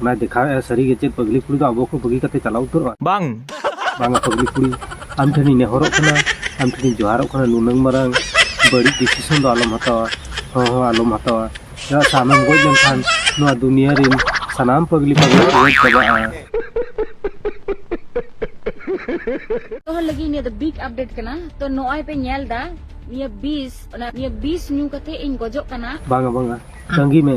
ᱚᱱᱟᱭ ᱫᱮᱠᱷᱟᱣᱮᱫᱼᱟ ᱥᱟᱹᱨᱤᱜᱮ ᱪᱮᱫ ᱯᱟᱹᱜᱽᱞᱤ ᱠᱩᱲᱤ ᱫᱚ ᱟᱵᱚ ᱠᱚ ᱵᱟᱹᱜᱤ ᱠᱟᱛᱮ ᱪᱟᱞᱟᱣ ᱩᱛᱟᱹᱨᱚᱜᱼᱟ ᱵᱟᱝ ᱵᱟᱝᱟ ᱯᱟᱹᱜᱽᱞᱤ ᱠᱩᱲᱤ ᱟᱢ ᱴᱷᱮᱱᱤᱧ ᱱᱮᱦᱚᱨᱚᱜ ᱠᱟᱱᱟ ᱟᱢ ᱴᱷᱮᱱᱤᱧ ᱡᱚᱦᱟᱨᱚᱜ ᱠᱟᱱᱟ ᱱᱩᱱᱟᱹᱝ ᱢᱟᱨᱟᱝ ᱵᱟᱹᱲᱤᱡ ᱰᱤᱥᱤᱥᱚᱱ ᱫᱚ ᱟᱞᱚᱢ ᱦᱟᱛᱟᱣᱟ ᱦᱚᱸ ᱦᱚᱸ ᱟᱞᱚᱢ ᱦᱟᱛᱟᱣᱟ ᱪᱮᱫᱟᱜ ᱥᱮ ᱟᱢᱮᱢ ᱜᱚᱡ ᱞᱮᱱᱠᱷᱟᱱ ᱱᱚᱣᱟ ᱫᱩᱱᱤᱭᱟᱹ ᱨᱤᱱ ᱥᱟᱱᱟᱢ ᱯᱟᱹᱜᱽᱞᱤ ᱯᱟᱹᱜᱽᱞᱤ ᱠᱚ ᱜᱚᱡ ᱪᱟᱵᱟᱜᱼᱟ ᱛᱚᱦᱚ ᱞᱟᱹᱜᱤᱫ ᱱᱤᱭᱟᱹ ᱫᱚ ᱵᱤᱜ ᱟᱯᱰᱮᱴ ᱠᱟᱱᱟ ᱛᱚ ᱱᱚᱜᱼᱚᱭ ᱯᱮ ᱧᱮᱞ ᱫᱟ ᱱᱤᱭᱟᱹ ᱵᱤᱥ ᱚᱱᱟ ᱱᱤᱭᱟᱹ ᱵᱤᱥ ᱧᱩ ᱠᱟᱛᱮ ᱤᱧ ᱜᱚᱡᱚᱜ ᱠᱟᱱᱟ ᱵᱟᱝᱟ ᱵᱟᱝᱟ ᱛᱟᱺᱜᱤ ᱢᱮ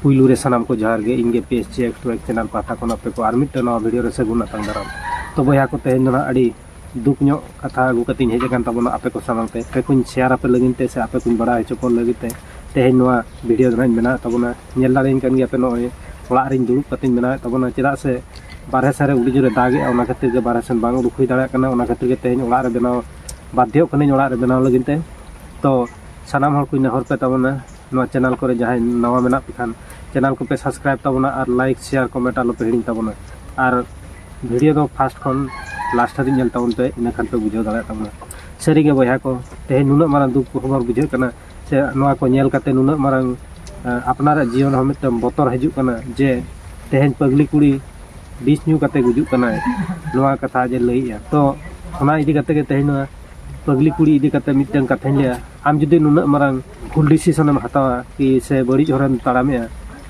ᱯᱩᱭᱞᱩ ᱨᱮ ᱥᱟᱱᱟᱢ ᱠᱚ ᱡᱚᱦᱟᱨ ᱜᱮ ᱤᱧ ᱜᱮ ᱯᱮᱥ ᱪᱮ ᱮᱠᱴᱨᱮᱠ ᱪᱮᱱᱟᱞ ᱯᱟᱦᱴᱟ ᱠᱷᱚᱱ ᱟᱯᱮ ᱠᱚ ᱟᱨ ᱢᱤᱫᱴᱟᱝ ᱱᱟᱣᱟ ᱵᱷᱤᱰᱤᱭᱳ ᱨᱮ ᱥᱟᱹᱜᱩᱱ ᱟᱛᱟᱝ ᱫᱟᱨᱟᱢ ᱛᱚ ᱵᱚᱭᱦᱟ ᱠᱚ ᱛᱮᱦᱮᱧ ᱫᱚ ᱱᱟᱜ ᱟᱹᱰᱤ ᱫᱩᱠ ᱧᱚᱜ ᱠᱟᱛᱷᱟ ᱟᱹᱜᱩ ᱠᱟᱛᱮᱧ ᱦᱮᱡ ᱟᱠᱟᱱ ᱛᱟᱵᱚᱱᱟ ᱟᱯᱮ ᱠᱚ ᱥᱟᱢᱟᱝ ᱛᱮ ᱟᱯᱮ ᱠᱚᱧ ᱥᱮᱭᱟᱨ ᱟᱯᱮ ᱞᱟᱹᱜᱤᱫ ᱛᱮ ᱥᱮ ᱟᱯᱮ ᱠᱚᱧ ᱵᱟᱲᱟᱭ ᱦᱚᱪᱚ ᱠᱚ ᱞᱟᱹᱜᱤᱫ ᱛᱮ ᱛᱮᱦᱮᱧ ᱱᱚᱣᱟ ᱵᱷᱤᱰᱤᱭᱳ ᱫᱚ ᱱᱟᱜ ᱤᱧ ᱵᱮᱱᱟᱣᱮᱫ ᱛᱟᱵᱚᱱᱟ ᱧᱮᱞ ᱫᱟᱲᱮᱭᱟᱹᱧ ᱠᱟᱱ ᱜᱮᱭᱟ ᱯᱮ ᱱᱚᱜᱼᱚᱭ ᱚᱲᱟᱜ ᱨᱤᱧ ᱫᱩᱲᱩᱵ ᱠᱟᱛᱮᱧ ᱵᱮᱱᱟᱣᱮᱫ ᱛᱟᱵᱚᱱᱟ ᱪᱮᱫᱟᱜ ᱥᱮ ᱵᱟᱨᱦᱮ ᱥᱮᱱ ᱨᱮ ᱟᱹᱰᱤ ᱡᱳᱨᱮ ᱫᱟᱜᱮᱜᱼᱟ ᱚᱱᱟ ᱠᱷᱟᱹᱛᱤᱨ ᱜᱮ ᱵᱟᱨᱦᱮ ᱥᱮᱱ ᱵᱟᱝ ᱩᱰᱩᱠ ᱦᱩᱭ ᱫᱟᱲᱮᱭᱟᱜ ᱠᱟᱱᱟ ᱚᱱᱟ ᱠᱷᱟᱹᱛᱤᱨ ᱜᱮ ᱛᱮᱦᱮᱧ ᱚᱲᱟᱜ ᱨᱮ ᱵᱮᱱᱟᱣ ᱵᱟᱫᱽᱫᱷᱚᱜ ᱠᱟᱹᱱᱟᱹᱧ ᱚᱲᱟᱜ ᱨᱮ ᱵᱮᱱᱟᱣ ᱞᱟᱹᱜᱤᱫ ᱛᱮ ᱛᱚ ᱥᱟᱱᱟᱢ ᱦᱚᱲ ᱠᱚᱧ ᱱᱮᱦᱚᱨ ᱯᱮ ᱛᱟᱵᱚᱱᱟ ᱱᱚᱣᱟ ᱪᱮᱱᱮᱞ ᱠᱚᱨᱮ ᱡᱟᱦᱟᱸᱭ ᱱᱟᱣᱟ ᱢᱮᱱᱟᱜ ᱯᱮ ᱠᱷᱟᱱ ᱪᱮᱱᱮᱞ ᱠᱚᱯᱮ ᱥᱟᱵᱥᱠᱨᱟᱭᱤᱵᱽ ᱛᱟᱵᱚᱱᱟ ᱟᱨ ᱞᱟᱭᱤᱠ ᱥᱮᱭᱟᱨ ᱠᱚᱢᱮᱱᱴ ᱟᱞᱚᱯᱮ ᱦᱤᱲᱤᱧ ᱛᱟᱵᱚᱱᱟ ᱟᱨ ᱵᱷᱤᱰᱤᱭᱳ ᱫᱚ ᱯᱷᱟᱥᱴ ᱠᱷᱚᱱ ᱞᱟᱥᱴ ᱦᱟᱹᱵᱤᱡ ᱧᱮᱞ ᱛᱟᱵᱚᱱ ᱯᱮ ᱤᱱᱟᱹ ᱠᱷᱟᱱ ᱯᱮ ᱵᱩᱡᱷᱟᱹᱣ ᱫᱟᱲᱮᱭᱟᱜ ᱛᱟᱵᱚᱱᱟ ᱥᱟᱹᱨᱤᱜᱮ ᱵᱚᱭᱦᱟ ᱠᱚ ᱛᱮᱦᱮᱧ ᱱᱩᱱᱟᱹᱜ ᱢᱟᱨᱟᱝ ᱫᱩᱠ ᱠᱚᱦᱚᱸ ᱵᱩᱡᱷᱟᱹᱜ ᱠᱟᱱᱟ ᱥᱮ ᱱᱚᱣᱟ ᱠᱚ ᱧᱮᱞ ᱠᱟᱛᱮ ᱱᱩᱱᱟᱹᱜ ᱢᱟᱨᱟᱝ ᱟᱯᱱᱟᱨᱟᱜ ᱡᱤᱭᱚᱱ ᱦᱚᱸ ᱢᱤᱫᱴᱟᱝ ᱵᱚᱛᱚᱨ ᱦᱤᱡᱩᱜ ᱠᱟᱱᱟ ᱡᱮ ᱛᱮᱦᱮᱧ ᱯᱟᱹᱜᱽᱞᱤ ᱠᱩᱲᱤ ᱵᱤᱥ ᱧᱩ ᱠᱟᱛᱮ ᱜᱩᱡᱩᱜ ᱠᱟᱱᱟᱭ ᱱᱚᱣᱟ ᱠᱟᱛᱷᱟ ᱡᱮ ᱞᱟᱹᱭᱮᱜᱼᱟ ᱛᱚ ᱚᱱᱟ ᱤᱫᱤ ᱠᱟᱛᱮ ᱜᱮ ᱛᱮᱦᱮᱧ ᱱᱚᱣᱟ ᱯᱟᱹᱜᱽᱞᱤ ᱠᱩᱲᱤ ᱤᱫᱤ ᱠᱟᱛᱮ ᱢᱤᱫᱴᱟᱝ ᱠᱟᱛᱷᱟᱧ ᱞᱟᱹᱭᱟ ᱟᱢ ᱡᱩᱫᱤ ᱱᱩᱱᱟᱹᱜ ᱢᱟᱨᱟᱝ ᱵᱷᱩᱞ ᱰᱤᱥᱤᱥᱚᱱ ᱮᱢ ᱦᱟᱛᱟᱣᱟ ᱠᱤ ᱥᱮ ᱵᱟᱹᱲᱤᱡ ᱦᱚᱨᱮᱢ ᱛᱟᱲᱟᱢᱮᱜᱼᱟ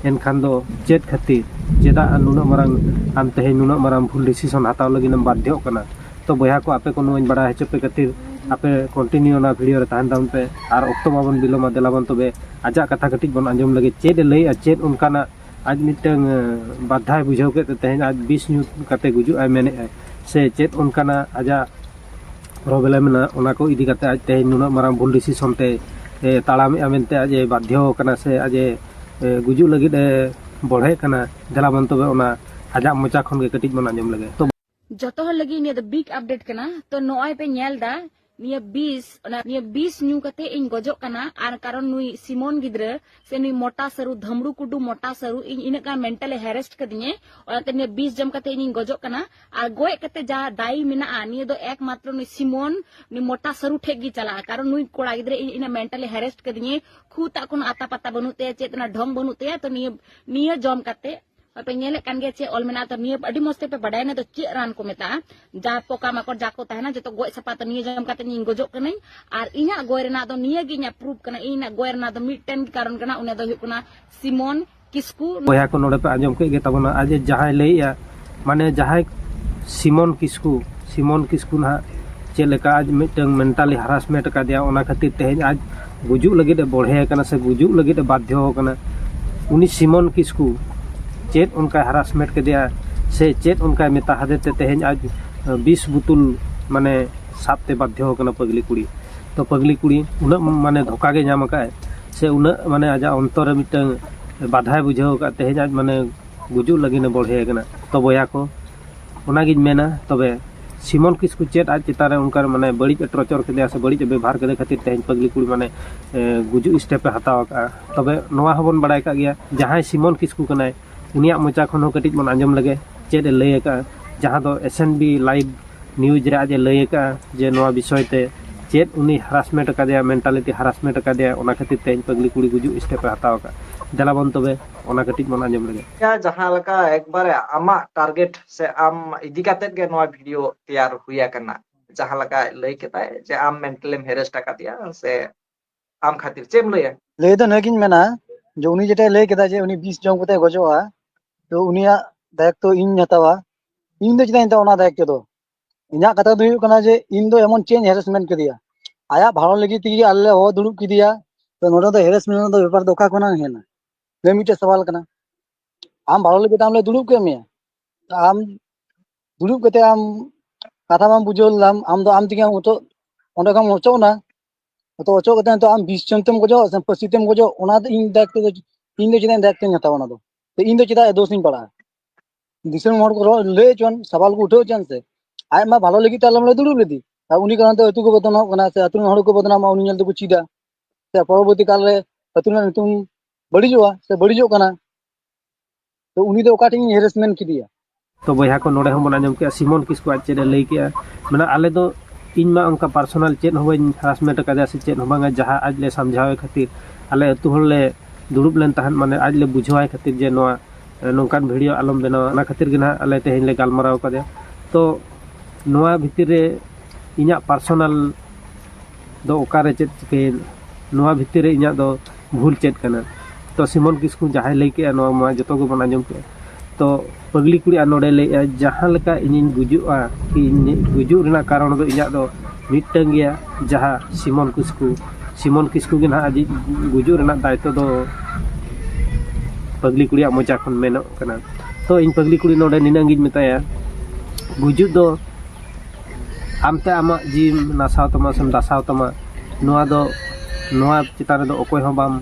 ᱮᱱᱠᱷᱟᱱ ᱫᱚ ᱪᱮᱫ ᱠᱷᱟᱹᱛᱤᱨ ᱪᱮᱫᱟᱜ ᱱᱩᱱᱟᱹᱜ ᱢᱟᱨᱟᱝ ᱟᱢ ᱛᱮᱦᱮᱧ ᱱᱩᱱᱟᱹᱜ ᱢᱟᱨᱟᱝ ᱵᱷᱩᱞ ᱰᱤᱥᱤᱥᱚᱱ ᱦᱟᱛᱟᱣ ᱞᱟᱹᱜᱤᱫ ᱮᱢ ᱵᱟᱫᱽᱫᱷᱚᱜ ᱠᱟᱱᱟ ᱛᱚ ᱵᱚᱭᱦᱟ ᱠᱚ ᱟᱯᱮ ᱠᱚ ᱱᱚᱣᱟᱧ ᱵᱟᱲᱟᱭ ᱦᱚᱪᱚ ᱯᱮ ᱠᱷᱟᱹᱛᱤᱨ ᱟᱯᱮ ᱠᱚᱱᱴᱤᱱᱤᱭᱩ ᱚᱱᱟ ᱵᱷᱤᱰᱤᱭᱳ ᱨᱮ ᱛᱟᱦᱮᱱ ᱛᱟᱵᱚᱱ ᱯᱮ ᱟᱨ ᱚᱠᱛᱚ ᱵᱟᱵᱚᱱ ᱵᱤᱞᱚᱢᱟ ᱫᱮᱞᱟ ᱵᱚᱱ ᱛᱚᱵᱮ ᱟᱡᱟᱜ ᱠᱟᱛᱷᱟ ᱠᱟᱹᱴᱤᱡ ᱵᱚᱱ ᱟᱸᱡᱚᱢ ᱞᱮᱜᱮ ᱪᱮᱫ ᱮ ᱞᱟᱹᱭᱮᱜᱼᱟ ᱪᱮᱫ ᱚᱱᱠᱟᱱᱟᱜ ᱟᱡ ᱢᱤᱫᱴᱟᱹᱝ ᱵᱟᱫᱽᱫᱷᱟᱭ ᱵᱩᱡᱷᱟᱹᱣ ᱠᱮᱫ ᱛᱮ ᱛᱮᱦᱮᱧ ᱟᱡ ᱵᱤᱥ ᱧᱩ ᱠᱟᱛᱮ ᱜᱩᱡᱩᱜ ᱟᱭ ᱢᱮᱱᱮᱜᱼᱟᱭ ᱥᱮ ᱪᱮᱫ ᱚᱱᱠᱟᱱᱟᱜ ᱟᱡᱟᱜ ᱯᱨᱚᱵᱞᱮᱢ ᱮᱱᱟ ᱚᱱᱟ ᱠᱚ ᱤᱫᱤ ᱠᱟᱛᱮ ᱟᱡ ᱛᱮᱦᱮᱧ ᱱᱩᱱᱟᱹᱜ ᱢᱟᱨᱟᱝ ᱵᱷᱩᱞ ᱰᱤᱥᱤᱥᱚᱱ ᱛᱮᱭ ᱛᱟᱲᱟᱢᱮᱜᱼᱟ ᱢᱮᱱᱛᱮ ᱟᱡ ᱮ ᱵᱟᱫᱽᱫᱷᱚ ᱠᱟᱱᱟ ᱥᱮ ᱟᱡ ᱮ ᱜᱩᱡᱩᱜ ᱞᱟᱹᱜᱤᱫ ᱮ ᱵᱚᱲᱦᱮᱜ ᱠᱟᱱᱟ ᱫᱮᱞᱟ ᱵᱚᱱ ᱛᱚᱵᱮ ᱚᱱᱟ ᱟᱡᱟᱜ ᱢᱚᱪᱟ ᱠᱷᱚᱱ ᱜᱮ ᱠᱟᱹᱴᱤᱡ ᱵᱚᱱ ᱟᱸᱡᱚᱢ ᱞᱮᱜᱮ ᱛᱚ ᱡᱚᱛᱚ ᱦᱚᱲ ᱞᱟᱹᱜᱤᱫ ᱱᱤᱭᱟᱹ ᱫᱚ ᱵᱤᱜ ᱟᱯᱰᱮᱴ ᱠᱟᱱᱟ ᱛᱚ ᱱᱚᱜᱼᱚᱭ ᱯᱮ ᱧᱮᱞ ᱫᱟ ᱱᱤᱭᱟᱹ ᱵᱤᱥ ᱚᱱᱟ ᱱᱤᱭᱟᱹ ᱵᱤᱥ ᱧᱩ ᱠᱟᱛᱮ ᱤᱧ ᱜᱚᱡᱚᱜ ᱠᱟᱱᱟ ᱟᱨ ᱠᱟᱨᱚᱱ ᱱᱩᱭ ᱥᱤᱢᱚᱱ ᱜᱤᱫᱽᱨᱟᱹ ᱥᱮ ᱱᱩᱭ ᱢᱚᱴᱟ ᱥᱟᱹᱨᱩ ᱫᱷᱟᱢᱲᱩ ᱠᱩᱰᱩ ᱢᱚᱴᱟ ᱥᱟᱹᱨᱩ ᱤᱧ ᱤᱱᱟᱹᱜ ᱜᱟᱱ ᱢᱮᱱᱴᱟᱞᱮ ᱦᱮᱨᱮᱥᱴ ᱠᱟᱫᱤᱧᱟᱹ ᱚᱱᱟᱛᱮ ᱱᱤᱭᱟᱹ ᱵᱤᱥ ᱡᱚᱢ ᱠᱟᱛᱮ ᱤᱧᱤᱧ ᱜᱚᱡᱚᱜ ᱠᱟᱱᱟ ᱟᱨ ᱜᱚᱡ ᱠᱟᱛᱮ ᱡᱟ ᱫᱟᱭᱤ ᱢᱮᱱᱟᱜᱼᱟ ᱱᱤᱭᱟᱹ ᱫᱚ ᱮᱠᱢᱟᱛᱨᱚ ᱱᱩᱭ ᱥᱤᱢᱚᱱ ᱩᱱᱤ ᱢᱚᱴᱟ ᱥᱟᱹᱨᱩ ᱴᱷᱮᱡ ᱜᱮ ᱪᱟᱞᱟᱜᱼᱟ ᱠᱟᱨᱚᱱ ᱱᱩᱭ ᱠᱚᱲᱟ ᱜᱤᱫᱽᱨᱟᱹ ᱤᱧ ᱤᱱᱟᱹ ᱢᱮᱱᱴᱟᱞᱤ ᱦᱮᱨᱮᱥᱴ ᱠᱟᱫᱤᱧᱮ ᱠᱷᱩ ᱛᱟᱜ ᱠᱳᱱᱳ ᱟᱛᱟ ᱯᱟᱛᱟ ᱵᱟᱹᱱᱩᱜ ᱛᱟᱭᱟ ᱪᱮᱫ ᱚᱱᱟ ᱰᱷᱚᱝ ᱵᱟᱹᱱᱩᱜ ᱛᱟᱭᱟ ᱛᱚ ᱱᱤᱭᱟᱹ ᱱᱤᱭᱟᱹ ᱡᱚᱢ ᱠᱟᱛᱮ ᱯᱮ ᱧᱮᱞᱮᱫ ᱠᱟᱱ ᱜᱮᱭᱟ ᱪᱮᱫ ᱚᱞ ᱢᱮᱱᱟᱜᱼᱟ ᱛᱚ ᱱᱤᱭᱟᱹ ᱟᱹᱰᱤ ᱢᱚᱡᱽ ᱛᱮᱯᱮ ᱵᱟᱰᱟᱭᱟ ᱱᱤᱭᱟᱹ ᱫᱚ ᱪᱮᱫ ᱨᱟᱱ ᱠᱚ ᱢᱮᱛᱟᱜᱼᱟ ᱡᱟ ᱯᱚᱠᱟ ᱢᱟᱠᱚᱲ ᱡᱟ ᱠᱚ ᱛᱟᱦᱮᱱᱟ ᱡᱚᱛᱚ ᱜᱚᱡ ᱥᱟᱯᱟ ᱛᱚ ᱱᱤᱭᱟᱹ ᱡᱚᱢ ᱠᱟᱛᱮ ᱤᱧ ᱜᱚᱡᱚᱜ ᱠᱟᱹᱱᱟᱹᱧ ᱟᱨ ᱤᱧᱟᱹᱜ ᱜᱚᱡ ᱨᱮᱱᱟᱜ ᱫᱚ ᱱᱤᱭᱟᱹ ᱜᱮ ᱤᱧᱟᱹᱜ ᱯᱨᱩᱯ ᱠᱟᱱᱟ ᱤᱧᱟᱹᱜ ᱜᱚᱡ ᱨᱮᱱᱟᱜ ᱫᱚ ᱢᱤᱫᱴᱮᱱ ᱠᱟᱨᱚᱱ ᱠᱟᱱᱟ ᱚᱱᱟ ᱫᱚ ᱦᱩᱭᱩᱜ ᱠᱟᱱᱟ ᱥᱤᱢᱚᱱ ᱠᱤᱥᱠᱩ ᱵᱚᱭᱦᱟ ᱠᱚ ᱱᱚᱰᱮ ᱯᱮ ᱟᱸᱡᱚᱢ ᱠᱮᱫ ᱜᱮ ᱛᱟᱵᱚᱱᱟ ᱟᱡᱮ ᱡᱟᱦᱟᱸᱭ ᱞᱟᱹᱭᱮᱜᱼᱟ ᱢᱟᱱᱮ ᱡᱟᱦᱟᱸᱭ ᱥᱤᱢᱚᱱ ᱠᱤᱥᱠᱩ ᱥᱤᱢᱚᱱ ᱠᱤᱥᱠᱩ ᱱᱟᱦᱟᱜ ᱪᱮᱫ ᱞᱮᱠᱟ ᱟᱡ ᱢᱤᱫᱴᱟᱝ ᱢᱮᱱᱴᱟᱞᱤ ᱦᱟᱨᱟᱥᱢᱮᱱᱴ ᱟᱠᱟᱫᱮᱭᱟ ᱚᱱᱟ ᱠᱷᱟᱹᱛᱤᱨ ᱛᱮᱦᱮᱧ ᱟᱡ ᱜᱩᱡᱩᱜ ᱞᱟᱹᱜᱤᱫ ᱮ ᱵᱚᱲᱦᱮ ᱟᱠᱟᱱᱟ ᱥᱮ ᱜᱩᱡᱩᱜ ᱞᱟᱹᱜᱤᱫ ᱮ ᱵᱟᱫᱽᱫᱷᱚ ᱟᱠᱟᱱᱟ ᱩᱱᱤ ᱥᱤᱢᱚᱱ ᱠᱤᱥᱠᱩ ᱪᱮᱫ ᱚᱱᱠᱟᱭ ᱦᱟᱨᱟᱥᱢᱮᱱᱴ ᱠᱮᱫᱮᱭᱟ ᱥᱮ ᱪᱮᱫ ᱚᱱᱠᱟᱭ ᱢᱮᱛᱟ ᱦᱟᱫᱮ ᱛᱮ ᱛᱮᱦᱮᱧ ᱟᱡ ᱵᱤᱥ ᱵᱩᱛᱩᱞ ᱢᱟᱱᱮ ᱥᱟᱵᱛᱮ ᱵᱟᱫᱽᱫᱷᱚ ᱟᱠᱟᱱᱟ ᱯᱟᱹᱜᱽᱞᱤ ᱠᱩᱲᱤ ᱛᱚ ᱯᱟᱹᱜᱽᱞᱤ ᱠᱩᱲᱤ ᱩᱱᱟᱹᱜ ᱢᱟᱱᱮ ᱫᱷᱳᱠᱟ ᱜᱮ ᱧᱟᱢ ᱟᱠᱟᱫ ᱟᱭ ᱥᱮ ᱩᱱᱟᱹᱜ ᱢᱟᱱᱮ ᱟᱡᱟᱜ ᱚᱱᱛᱚᱨ ᱨᱮ ᱢᱤᱫᱴᱟᱝ ᱵᱟᱫᱷᱟᱭ ᱵᱩᱡᱷᱟᱹᱣ ᱟᱠᱟᱫ ᱛᱮᱦᱮᱧ ᱟᱡ ᱢᱟᱱᱮ ᱜᱩᱡᱩᱜ ᱞᱟᱹᱜᱤᱫ ᱮ ᱵᱚᱲᱦᱮ ᱟᱠᱟᱱᱟ ᱛᱚ ᱵᱚᱭᱦᱟ ᱠᱚ ᱚᱱᱟᱜᱤᱧ ᱢᱮᱱᱟ ᱛᱚᱵᱮ ᱥᱤᱢᱚᱞ ᱠᱤᱥᱠᱩ ᱪᱮᱫ ᱟᱡ ᱪᱮᱛᱟᱱ ᱨᱮ ᱚᱱᱠᱟᱱ ᱢᱟᱱᱮ ᱵᱟᱹᱲᱤᱡ ᱮ ᱴᱚᱨᱪᱚᱨ ᱠᱮᱫᱮᱭᱟ ᱥᱮ ᱵᱟᱹᱲᱤᱡ ᱮ ᱵᱮᱵᱚᱦᱟᱨ ᱠᱮᱫᱮ ᱠᱷᱟᱹᱛᱤᱨ ᱛᱮᱦᱮᱧ ᱯᱟᱹᱜᱽᱞᱤ ᱠᱩᱲᱤ ᱢᱟᱱᱮ ᱜᱩᱡᱩᱜ ᱥᱴᱮᱯ ᱮ ᱦᱟᱛᱟᱣ ᱟᱠᱟᱫᱼᱟ ᱛᱚᱵᱮ ᱱᱚᱣᱟ ᱦᱚᱸᱵᱚᱱ ᱵᱟᱲᱟᱭ ᱠᱟᱜ ᱜᱮᱭᱟ ᱡᱟᱦᱟᱸᱭ ᱥᱤᱢᱚᱞ ᱠᱤᱥᱠᱩ ᱠᱟᱱᱟᱭ ᱩᱱᱤᱭᱟᱜ ᱢᱚᱪᱟ ᱠᱷᱚᱱ ᱦᱚᱸ ᱠᱟᱹᱴᱤᱡ ᱵᱚᱱ ᱟᱸᱡᱚᱢ ᱞᱮᱜᱮ ᱪᱮᱫ ᱮ ᱞᱟᱹᱭ ᱟᱠᱟᱫᱼᱟ ᱡᱟᱦᱟᱸ ᱫᱚ S N B live news ᱨᱮ ᱟᱡ ᱮ ᱞᱟᱹᱭ ᱟᱠᱟᱫᱼᱟ ᱡᱮ ᱱᱚᱣᱟ ᱵᱤᱥᱚᱭ ᱛᱮ ᱪᱮᱫ ᱩᱱᱤ ᱦᱟᱨᱟᱥᱢᱮᱱᱴ ᱟᱠᱟᱫᱮᱭᱟ ᱢᱮᱱᱴᱟᱞᱤᱴᱤ ᱦᱟᱨᱟᱥᱢᱮᱱᱴ ᱟᱠᱟᱫᱮᱭᱟ ᱚᱱᱟ ᱠᱷᱟᱹᱛᱤᱨ ᱛᱮ ᱯᱟᱹᱜᱽᱞᱤ ᱠᱩᱲᱤ ᱜᱩᱡᱩᱜ ᱥᱴᱮᱯ ᱮ ᱦᱟᱛᱟᱣ ᱟᱠᱟᱫᱼᱟ ᱫᱮᱞᱟ ᱵᱚᱱ ᱛᱚᱵᱮ ᱚᱱᱟ ᱠᱟᱹᱴᱤᱡ ᱵᱚᱱ ᱟᱸᱡᱚᱢ ᱞᱮᱜᱮ ᱡᱟᱦᱟᱸ ᱞᱮᱠᱟ ᱮᱠᱵᱟᱨᱮ ᱟᱢᱟᱜ ᱴᱟᱨᱜᱮᱴ ᱥᱮ ᱟᱢ ᱤᱫᱤ ᱠᱟᱛᱮ ᱜᱮ ᱱᱚᱣᱟ ᱵᱷᱤᱰᱤᱭᱳ ᱛᱮᱭᱟᱨ ᱦᱩᱭ ᱟᱠᱟᱱᱟ ᱡᱟᱦᱟᱸ ᱞᱮᱠᱟ ᱞᱟᱹᱭ ᱠᱮᱫᱟᱭ ᱡᱮ ᱟᱢ ᱢᱮᱱᱴᱟᱞᱮᱢ ᱦᱮᱨᱮᱥᱴ ᱟᱠᱟᱫᱮᱭᱟ ᱥᱮ ᱟᱢ ᱠᱷᱟᱹᱛᱤᱨ ᱪᱮᱫ ᱮᱢ ᱞᱟᱹᱭᱟ ᱞᱟᱹᱭ ᱫᱚ ᱱᱤᱭᱟᱹᱜᱤᱧ ᱢᱮᱱᱟ ᱡᱮ ᱩᱱᱤ ᱡᱮᱴᱟᱭ ᱞᱟᱹᱭ ᱠᱮᱫᱟ ᱡᱮ ᱩᱱᱤ ᱵᱤᱥ ᱡᱚᱢ ᱠᱟᱛᱮ ᱜᱚᱡᱚᱜᱼᱟ ᱛᱚ ᱩᱱᱤᱭᱟᱜ ᱫᱟᱭᱤᱛᱛᱚ ᱤᱧ ᱦᱟᱛᱟᱣᱟ ᱤᱧ ᱫᱚ ᱪᱮᱫᱟᱜ ᱤᱧ ᱦᱟᱛᱟᱣᱟ ᱚᱱᱟ ᱫᱟᱭᱤᱛᱛᱚ ᱫᱚ ᱤᱧᱟᱹᱜ ᱠᱟᱛᱷᱟ ᱫᱚ ᱦᱩᱭᱩᱜ ᱠᱟᱱᱟ ᱡᱮ ᱤᱧ ᱫᱚ ᱮᱢᱚᱱ ᱪᱮᱫ ᱤᱧ ᱦᱮᱨᱮᱥᱢᱮᱱᱴ ᱠᱮᱫᱮᱭᱟ ᱟᱭᱟᱜ ᱵᱷᱟᱲᱚ ᱞᱟᱹᱜᱤᱫ ᱛᱮᱜᱮ ᱟᱞᱮ ᱞᱮ ᱦᱚᱦᱚ ᱫᱩᱲᱩᱵ ᱠᱮᱫᱮᱭᱟ ᱛᱚ ᱱᱚᱰᱮ ᱫᱚ ᱦᱮᱨᱮᱥᱢᱮᱱᱴ ᱫᱚ ᱵᱮᱯᱟᱨ ᱫᱚ ᱚᱠᱟ ᱠᱷᱚᱱᱟᱜ ᱦᱮᱡ ᱮᱱᱟ ᱱᱤᱭᱟᱹ ᱢᱤᱫᱴᱮᱡ ᱥᱟᱣᱟᱞ ᱠᱟᱱᱟ ᱟᱢ ᱵᱷᱟᱲᱚ ᱞᱟᱹᱜᱤᱫ ᱟᱢ ᱞᱮ ᱫᱩᱲᱩᱵ ᱠᱮᱫ ᱢᱮᱭᱟ ᱟᱢ ᱫᱩᱲᱩᱵ ᱠᱟᱛᱮ ᱟᱢ ᱠᱟᱛᱷᱟ ᱵᱟᱢ ᱵᱩᱡᱷᱟᱹᱣ ᱞᱮᱫᱟᱢ ᱟᱢ ᱫᱚ ᱟᱢ ᱛᱮᱜᱮ ᱱᱤᱛᱚᱜ ᱚᱸᱰᱮ ᱠᱷᱚᱱ ᱚᱪᱚᱜ ᱮᱱᱟ ᱦᱚᱛᱚ ᱚᱪᱚᱜ ᱠᱟᱛᱮ ᱱᱤᱛᱚᱜ ᱟᱢ ᱵᱤᱥ ᱡᱚᱱ ᱛᱮᱢ ᱜᱚᱡᱚᱜ ᱥᱮ ᱯᱟᱹᱥᱤ ᱛᱮᱢ ᱜᱚᱡᱚᱜ ᱚᱱᱟ ᱫᱚ ᱤᱧ ᱫᱟᱭᱤᱛᱛᱚ ᱫᱚ ᱤᱧ ᱫᱚ ᱪᱮᱫᱟᱜ ᱤᱧ ᱫᱟᱭᱤᱛᱛᱚᱧ ᱦᱟᱛᱟᱣᱟ ᱚᱱᱟ ᱫᱚ ᱤᱧ ᱫᱚ ᱪᱮᱫᱟᱜ ᱫᱳᱥ ᱤᱧ ᱯᱟᱲᱟᱜᱼᱟ ᱫᱤᱥᱚᱢ ᱦᱚᱲ ᱠᱚ ᱨᱚᱲ ᱞᱟᱹᱭ ᱦᱚᱪᱚᱣᱟᱱ ᱥᱟᱵᱟᱞ ᱠᱚ ᱩᱴᱷᱟᱹᱣ ᱦᱚᱪᱚᱣᱟᱱ ᱥᱮ ᱟᱡ ᱢᱟ ᱵᱷᱟᱞᱚ ᱞᱟᱹᱜᱤᱫ ᱛᱮ ᱟᱞᱚᱢ ᱞᱟᱹᱭ ᱫᱩᱲᱩᱵ ᱞᱮᱫᱮ ᱟᱨ ᱩᱱᱤ ᱠᱟᱨᱚᱱ ᱛᱮ ᱟᱹᱛᱩ ᱠᱚ ᱵᱚᱫᱱᱟᱢᱚᱜ ᱠᱟᱱᱟ ᱥᱮ ᱟᱹᱛᱩ ᱨᱮᱱ ᱦᱚᱲ ᱠᱚ ᱵᱚᱫᱱᱟᱢᱚᱜᱼᱟ ᱩᱱᱤ ᱧᱮᱞ ᱛᱮᱠᱚ ᱪᱮᱫᱟ ᱥᱮ ᱯᱚᱨᱚᱵᱚᱨᱛᱤ ᱠᱟᱞᱨᱮ ᱟᱹᱛᱩ ᱨᱮᱱᱟᱜ ᱧᱩᱛᱩᱢ ᱵᱟᱹᱲᱤᱡᱚᱜᱼᱟ ᱥᱮ ᱵᱟᱹᱲᱤᱡᱚᱜ ᱠᱟᱱᱟ ᱛᱚ ᱩᱱᱤ ᱫᱚ ᱚᱠᱟ ᱴᱷᱮᱱ ᱦᱮᱨᱮᱥᱢᱮᱱᱴ ᱠᱮᱫᱮᱭᱟ ᱛᱚ ᱵᱚᱭᱦᱟ ᱠᱚ ᱱᱚᱰᱮ ᱦᱚᱸ ᱵᱚᱱ ᱟᱸᱡᱚᱢ ᱠᱮᱜᱼᱟ ᱥᱤᱢᱚᱱ ᱠᱤᱥᱠᱩ ᱟᱡ ᱪᱮᱫ ᱮ ᱞᱟᱹᱭ ᱠᱮᱜᱼᱟ ᱢᱟᱱᱮ ᱟᱞᱮ ᱫᱚ ᱤᱧ ᱢᱟ ᱚᱱᱠᱟ ᱯᱟᱨᱥᱚᱱᱟᱞ ᱪᱮᱫ ᱦᱚᱸ ᱵᱟᱹᱧ ᱦᱮᱨᱟᱥᱢᱮᱱᱴ ᱟᱠᱟᱫᱮᱭᱟ ᱥᱮ ᱪᱮᱫ ᱦᱚᱸ ᱵᱟᱝᱟ ᱡᱟᱦᱟᱸ ᱟᱡ ᱞᱮ ᱥᱟᱢᱡᱷᱟᱣᱮ ᱠᱷᱟᱹᱛᱤᱨ ᱟᱞᱮ ᱟᱹᱛᱩ ᱦᱚᱲ ᱞᱮ ᱫᱩᱲᱩᱵ ᱞᱮᱱ ᱛᱟᱦᱮᱸᱫ ᱢᱟᱱᱮ ᱟᱡ ᱞᱮ ᱵᱩᱡᱷᱟᱹᱣᱟᱭ ᱠᱷᱟᱹᱛᱤᱨ ᱡᱮ ᱱᱚᱣᱟ ᱱᱚᱝᱠᱟᱱ ᱵᱷᱤᱰᱤᱭᱳ ᱟᱞᱚᱢ ᱵᱮᱱᱟᱣᱟ ᱚᱱᱟ ᱠᱷᱟᱹᱛᱤᱨ ᱜᱮ ᱱᱟᱦᱟᱜ ᱟᱞᱮ ᱛᱮᱦᱮᱧ ᱞᱮ ᱜᱟᱞᱢᱟᱨᱟᱣ ᱠᱟᱫᱮᱭᱟ ᱛᱚ ᱱᱚᱣᱟ ᱵᱷᱤᱛᱤᱨ ᱨᱮ ᱤᱧᱟᱹᱜ ᱯᱟᱨᱥᱚᱱᱟᱞ ᱫᱚ ᱚᱠᱟᱨᱮ ᱪᱮᱫ ᱪᱤᱠᱟᱹᱭᱮᱱ ᱱᱚᱣᱟ ᱵᱷᱤᱛᱤᱨ ᱨᱮ ᱤᱧᱟᱹᱜ ᱫᱚ ᱵᱷᱩᱞ ᱪᱮᱫ ᱠᱟᱱᱟ ᱛᱚ ᱥᱤᱢᱚᱞ ᱠᱤᱥᱠᱩ ᱡᱟᱦᱟᱸᱭ ᱞᱟᱹᱭ ᱠᱮᱜᱼᱟ ᱱᱚᱣᱟ ᱢᱟ ᱡᱚᱛᱚ ᱜᱮᱵᱚᱱ ᱟᱸᱡᱚᱢ ᱠᱮᱜᱼᱟ ᱛᱚ ᱯᱟᱹᱜᱽᱞᱤ ᱠᱩᱲᱤ ᱟᱨ ᱱᱚᱰᱮ ᱞᱟᱹᱭ ᱮᱜᱼᱟᱭ ᱡᱟᱦᱟᱸ ᱞᱮᱠᱟ ᱤᱧᱤᱧ ᱜᱩᱡᱩᱜᱼᱟ ᱠᱤ ᱤᱧᱟᱹᱜ ᱜᱩᱡᱩᱜ ᱨᱮᱱᱟᱜ ᱠᱟᱨᱚᱱ ᱫᱚ ᱤᱧᱟᱹᱜ ᱫᱚ ᱢᱤᱫᱴᱟᱹᱱ ᱜᱮᱭᱟ ᱡᱟᱦᱟᱸ ᱥᱤᱢᱚᱞ ᱠᱤᱥᱠᱩ ᱥᱤᱢᱚᱞ ᱠᱤᱥᱠᱩ ᱜᱮ ᱦᱟᱸᱜ ᱟᱡᱤᱡ ᱜᱩᱡᱩᱜ ᱨᱮᱱᱟᱜ ᱫᱟᱭᱤᱛᱛᱚ ᱫᱚ ᱯᱟᱹᱜᱽᱞᱤ ᱠᱩᱲᱤᱭᱟᱜ ᱢᱚᱪᱟ ᱠᱷᱚᱱ ᱢᱮᱱᱚᱜ ᱠᱟᱱᱟ ᱛᱚ ᱤᱧ ᱯᱟᱹᱜᱽᱞᱤ ᱠᱩᱲᱤ ᱱᱚᱰᱮ ᱱᱤᱱᱟᱹᱜ ᱜᱤᱧ ᱢᱮᱛᱟᱭᱟ ᱜᱩᱡᱩᱜ ᱫᱚ ᱟᱢᱛᱮ ᱟᱢᱟᱜ ᱡᱤᱣᱤᱢ ᱱᱟᱥᱟᱣ ᱛᱟᱢᱟ ᱥᱮᱢ ᱫᱟᱥᱟᱣ ᱛᱟᱢᱟ ᱱᱚᱣᱟ ᱫᱚ ᱱᱚᱣᱟ ᱪᱮᱛᱟᱱ ᱨᱮᱫᱚ ᱚᱠᱚᱭ ᱦᱚᱸ ᱵᱟᱢ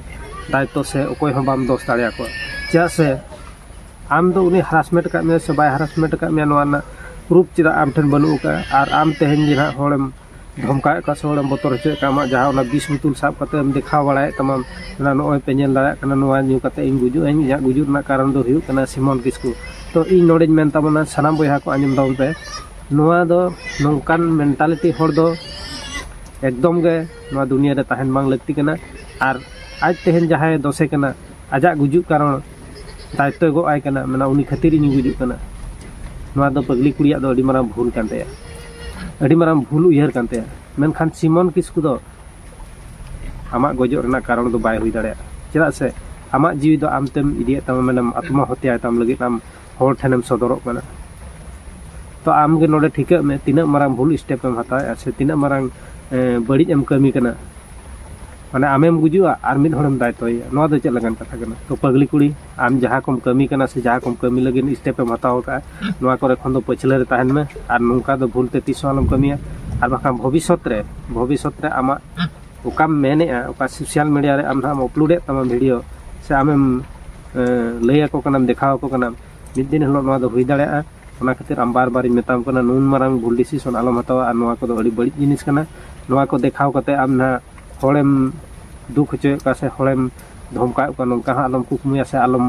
ᱫᱟᱭᱤᱛᱛᱚ ᱥᱮ ᱚᱠᱚᱭ ᱦᱚᱸ ᱵᱟᱢ ᱫᱳᱥ ᱫᱟᱲᱮᱭᱟᱠᱚᱣᱟ ᱪᱮᱫᱟᱜ ᱥᱮ ᱟᱢ ᱫᱚ ᱩᱱᱤ ᱦᱟᱨᱟᱥᱢᱮᱱᱴ ᱟᱠᱟᱫ ᱢᱮᱭᱟ ᱥᱮ ᱵᱟᱭ ᱦᱟᱨᱟᱥᱢᱮᱱᱴ ᱟᱠᱟᱫ ᱢᱮᱭᱟ ᱱᱚᱣᱟ ᱨᱮᱱᱟᱜ ᱯᱨᱩᱯ ᱪᱮᱫᱟᱜ ᱟᱢ ᱴᱷᱮᱱ ᱵᱟᱹᱱᱩᱜ ᱟᱠᱟᱫᱼᱟ ᱟᱨ ᱟᱢ ᱛᱮᱦᱮᱧ ᱜᱮ ᱱᱟᱦᱟᱜ ᱦᱚᱲᱮᱢ ᱫᱷᱚᱢᱠᱟᱣᱮᱫ ᱠᱚᱣᱟ ᱥᱮ ᱦᱚᱲᱮᱢ ᱵᱚᱛᱚᱨ ᱦᱚᱪᱚᱭᱮᱫ ᱠᱚᱣᱟ ᱟᱢᱟᱜ ᱡᱟᱦᱟᱸ ᱚᱱᱟ ᱵᱤᱥ ᱵᱳᱛᱳᱞ ᱥᱟᱵ ᱠᱟᱛᱮᱢ ᱫᱮᱠᱷᱟᱣ ᱵᱟᱲᱟᱭᱮᱫ ᱛᱟᱢᱟ ᱱᱚᱜᱼᱚᱭ ᱯᱮ ᱧᱮᱞ ᱫᱟᱲᱮᱭᱟᱜ ᱠᱟᱱᱟ ᱱᱚᱣᱟ ᱧᱩ ᱠᱟᱛᱮᱫ ᱤᱧ ᱜᱩᱡᱩᱜ ᱟᱹᱧ ᱤᱧᱟᱹᱜ ᱜᱩᱡᱩᱜ ᱨᱮᱱᱟᱜ ᱠᱟᱨᱚᱱ ᱫᱚ ᱦᱩᱭᱩᱜ ᱠᱟᱱᱟ ᱥᱤᱢᱚᱞ ᱠᱤᱥᱠᱩ ᱛᱚ ᱤᱧ ᱱᱚᱰᱮᱧ ᱢᱮᱱ ᱛᱟᱵᱚᱱᱟ ᱥᱟᱱᱟᱢ ᱵᱚᱭᱦᱟ ᱠᱚ ᱟᱸᱡᱚᱢ ᱛᱟᱵᱚᱱ ᱯᱮ ᱱᱚᱣᱟ ᱫᱚ ᱱᱚᱝᱠᱟᱱ ᱢᱮᱱᱴᱟᱞᱤᱴᱤ ᱦᱚᱲ ᱫᱚ ᱮᱠᱫᱚᱢ ᱜᱮ ᱱᱚᱣᱟ ᱫᱩᱱᱤᱭᱟᱹ ᱨᱮ ᱛᱟᱦᱮᱱ ᱵᱟᱝ ᱞᱟᱹᱠᱛᱤ ᱠᱟᱱᱟ ᱟᱨ ᱟᱡ ᱛᱮᱦᱮᱧ ᱡᱟᱦᱟᱸᱭ ᱫᱚᱥᱮ ᱠᱟᱱᱟ ᱟᱡᱟᱜ ᱜᱩᱡᱩᱜ ᱠᱟᱨᱚᱱ ᱫᱟᱭᱤᱛᱛᱚᱭ ᱜᱚᱜ ᱟᱭ ᱠᱟᱱᱟ ᱢᱟᱱᱮ ᱩᱱᱤ ᱠᱷᱟᱹᱛᱤᱨ ᱤᱧᱤᱧ ᱜᱩᱡᱩᱜ ᱠᱟᱱᱟ ᱱᱚᱣᱟ ᱫᱚ ᱯᱟᱹᱜᱽᱞᱤ ᱠᱩᱲᱤᱭᱟᱜ ᱫᱚ ᱟᱹᱰᱤ ᱢᱟᱨᱟᱝ ᱵᱷᱩᱞ ᱠᱟᱱ ᱛᱟᱭᱟ ᱟᱹᱰᱤ ᱢᱟᱨᱟᱝ ᱵᱷᱩᱞ ᱩᱭᱦᱟᱹᱨ ᱠᱟᱱ ᱛᱟᱭᱟ ᱢᱮᱱᱠᱷᱟᱱ ᱥᱤᱢᱚᱱ ᱠᱤᱥᱠᱩ ᱫᱚ ᱟᱢᱟᱜ ᱜᱚᱡᱚᱜ ᱨᱮᱱᱟᱜ ᱠᱟᱨᱚᱱ ᱫᱚ ᱵᱟᱭ ᱦᱩᱭ ᱫᱟᱲᱮᱭᱟᱜᱼᱟ ᱪᱮᱫᱟᱜ ᱥᱮ ᱟᱢᱟᱜ ᱡᱤᱣᱤ ᱫᱚ ᱟᱢ ᱛᱮᱢ ᱤᱫᱤᱭᱮᱫ ᱛᱟᱢᱟ ᱢᱟᱱᱮᱢ ᱟᱛᱢᱟ ᱦᱚᱛᱭᱟᱭ ᱛᱟᱢ ᱞᱟᱹᱜᱤᱫ ᱟᱢ ᱦᱚᱲ ᱴᱷᱮᱱᱮᱢ ᱥᱚᱫᱚᱨᱚᱜ ᱠᱟᱱᱟ ᱛᱚ ᱟᱢ ᱜᱮ ᱱᱚᱰᱮ ᱴᱷᱤᱠᱟᱹᱜ ᱢᱮ ᱛᱤᱱᱟᱹᱜ ᱢᱟᱨᱟᱝ ᱵᱷᱩᱞ ᱥᱴᱮᱯ ᱮᱢ ᱦᱟᱛᱟᱣᱮᱫᱼᱟ ᱥᱮ ᱛᱤᱱᱟᱹᱜ ᱢᱟᱨᱟᱝ ᱵᱟᱹᱲᱤᱡ ᱮᱢ ᱠᱟᱹᱢᱤ ᱠᱟᱱᱟ ᱢᱟᱱᱮ ᱟᱢᱮᱢ ᱜᱩᱡᱩᱜᱼᱟ ᱟᱨ ᱢᱤᱫ ᱦᱚᱲᱮᱢ ᱫᱟᱭᱤᱛᱛᱚᱭᱮᱭᱟ ᱱᱚᱣᱟ ᱫᱚ ᱪᱮᱫ ᱞᱮᱠᱟᱱ ᱠᱟᱛᱷᱟ ᱠᱟᱱᱟ ᱛᱚ ᱯᱟᱹᱜᱽᱞᱤ ᱠᱩᱲᱤ ᱟᱢ ᱡᱟᱦᱟᱸ ᱠᱚᱢ ᱠᱟᱹᱢᱤ ᱠᱟᱱᱟ ᱥᱮ ᱡᱟᱦᱟᱸ ᱠᱚᱢ ᱠᱟᱹᱢᱤ ᱞᱟᱹᱜᱤᱫ ᱥᱴᱮᱯ ᱮᱢ ᱦᱟᱛᱟᱣ ᱟᱠᱟᱫᱼᱟ ᱱᱚᱣᱟ ᱠᱚᱨᱮ ᱠᱷᱚᱱ ᱫᱚ ᱯᱟᱹᱪᱷᱞᱟᱹ ᱨᱮ ᱛᱟᱦᱮᱱ ᱢᱮ ᱟᱨ ᱱᱚᱝᱠᱟ ᱫᱚ ᱵᱷᱩᱞ ᱛᱮ ᱛᱤᱥ ᱦᱚᱸ ᱟᱞᱚᱢ ᱠᱟᱹᱢᱤᱭᱟ ᱟᱨ ᱵᱟᱠᱷᱟᱱ ᱵᱷᱚᱵᱤᱥᱥᱚᱛ ᱨᱮ ᱵᱷᱚᱵᱤᱥᱥᱚᱛ ᱨᱮ ᱟᱢᱟᱜ ᱚᱠᱟᱢ ᱢᱮᱱᱮᱫᱼᱟ ᱚᱠᱟ ᱥᱳᱥᱟᱞ ᱢᱤᱰᱤᱭᱟ ᱨᱮ ᱟᱢ ᱱᱟᱦᱟᱜ ᱮᱢ ᱟᱯᱞᱳᱰᱮᱫ ᱛᱟᱢᱟ ᱵᱷᱤᱰᱤᱭᱳ ᱥᱮ ᱟᱢᱮᱢ ᱞᱟᱹᱭ ᱟᱠᱚ ᱠᱟᱱᱟᱢ ᱫᱮᱠᱷᱟᱣ ᱟᱠᱚ ᱠᱟᱱᱟᱢ ᱢᱤᱫ ᱫᱤᱱ ᱦᱤᱞᱳᱜ ᱱᱚᱣᱟ ᱫᱚ ᱦᱩᱭ ᱫᱟᱲᱮᱭᱟᱜᱼᱟ ᱚᱱᱟ ᱠᱷᱟᱹᱛᱤᱨ ᱟᱢ ᱵᱟᱨ ᱵᱟᱨᱤᱧ ᱢᱮᱛᱟᱢ ᱠᱟᱱᱟ ᱱᱩᱱ ᱢᱟᱨᱟᱝ ᱵᱷᱩᱞ ᱰᱤᱥᱤᱥᱚᱱ ᱟᱞᱚᱢ ᱦᱟᱛᱟᱣᱟ ᱟᱨ ᱱᱚᱣᱟ ᱠᱚᱫᱚ ᱟᱹᱰᱤ ᱵᱟᱹᱲᱤᱡ ᱡᱤᱱᱤᱥ ᱠᱟᱱᱟ ᱱᱚᱣᱟ ᱠᱚ ᱫᱮᱠᱷᱟᱣ ᱠᱟᱛᱮ ᱟᱢ ᱱᱟᱦᱟᱜ ᱦᱚᱲᱮᱢ ᱫᱩᱠ ᱦᱚᱪᱚᱭᱮᱫ ᱠᱚᱣᱟ ᱥᱮ ᱦᱚᱲᱮᱢ ᱫᱷᱚᱢᱠᱟᱣᱮᱫ ᱠᱚᱣᱟ ᱱᱚᱝᱠᱟ ᱦᱚᱸ ᱟᱞᱚᱢ ᱠᱩᱠᱢᱩᱭᱟ ᱥᱮ ᱟᱞᱚᱢ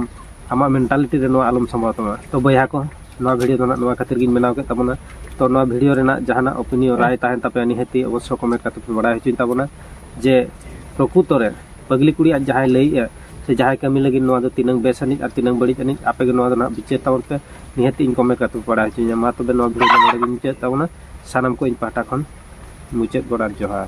ᱟᱢᱟᱜ ᱢᱮᱱᱴᱟᱞᱤᱴᱤ ᱨᱮ ᱱᱚᱣᱟ ᱟᱞᱚᱢ ᱥᱟᱢᱵᱟᱣ ᱛᱟᱢᱟ ᱛᱚ ᱵᱚᱭᱦᱟ ᱠᱚ ᱱᱚᱣᱟ ᱵᱷᱤᱰᱭᱳ ᱫᱚ ᱱᱟᱜ ᱱᱚᱣᱟ ᱠᱷᱟᱹᱛᱤᱨ ᱜᱤᱧ ᱵᱮᱱᱟᱣ ᱠᱮᱫ ᱛᱟᱵᱚᱱᱟ ᱛᱚ ᱱᱚᱣᱟ ᱵᱷᱤᱰᱭᱳ ᱨᱮᱱᱟᱜ ᱡᱟᱦᱟᱱᱟᱜ ᱚᱯᱤᱱᱤᱭᱚᱱ ᱨᱟᱭ ᱛᱟᱦᱮᱱ ᱛᱟᱯᱮᱭᱟ ᱱᱤᱦᱟᱹᱛᱤ ᱚᱵᱚᱥᱥᱚ ᱠᱚᱢᱮᱱᱴ ᱠᱟᱛᱮ ᱯᱮ ᱵᱟᱲᱟᱭ ᱦᱚᱪᱚᱧ ᱛᱟᱵᱚᱱᱟ ᱡᱮ ᱯᱨᱚᱠᱩᱛᱚ ᱨᱮ ᱯᱟᱹᱜᱽᱞᱤ ᱠᱩᱲᱤ ᱟᱡ ᱡᱟᱦᱟᱸᱭ ᱞᱟᱹᱭᱮᱫᱼᱟ ᱥᱮ ᱡᱟᱦᱟᱸᱭ ᱠᱟᱹᱢᱤ ᱞᱟᱹᱜᱤᱫ ᱱᱚᱣᱟ ᱫᱚ ᱛᱤᱱᱟᱹᱝ ᱵᱮᱥ ᱟᱹᱱᱤᱡ ᱟᱨ ᱛᱤᱱᱟᱹᱝ ᱵᱟᱹᱲᱤᱡ ᱟᱹᱱᱤᱡ ᱟᱯᱮ ᱜᱮ ᱱᱚᱣᱟ ᱫᱚ ᱱᱟᱜ ᱵᱤᱪᱟᱹᱨ ᱛᱟᱵᱚᱱ ᱯᱮ ᱱᱤᱦᱟᱹᱛᱤ ᱤᱧ ᱠᱚᱢᱮᱱᱴ ᱠᱟᱛᱮ ᱯᱮ ᱵᱟᱲᱟᱭ ᱦᱚᱪᱚᱧᱟ ᱢᱟ ᱛᱚᱵᱮ ᱱᱚᱣᱟ ᱵᱷᱤᱰᱭᱳ ᱫᱚ ᱱᱚᱰᱮ ᱜᱤᱧ ᱢᱩᱪᱟᱹᱫ ᱛᱟᱵᱚᱱᱟ ᱥᱟᱱᱟᱢ ᱠᱚ ᱤᱧ ᱯᱟᱦᱴᱟ ᱠᱷᱚᱱ ᱢᱩᱪᱟᱹᱫ ᱜᱚᱰ ᱟᱨ ᱡᱚᱦᱟᱨ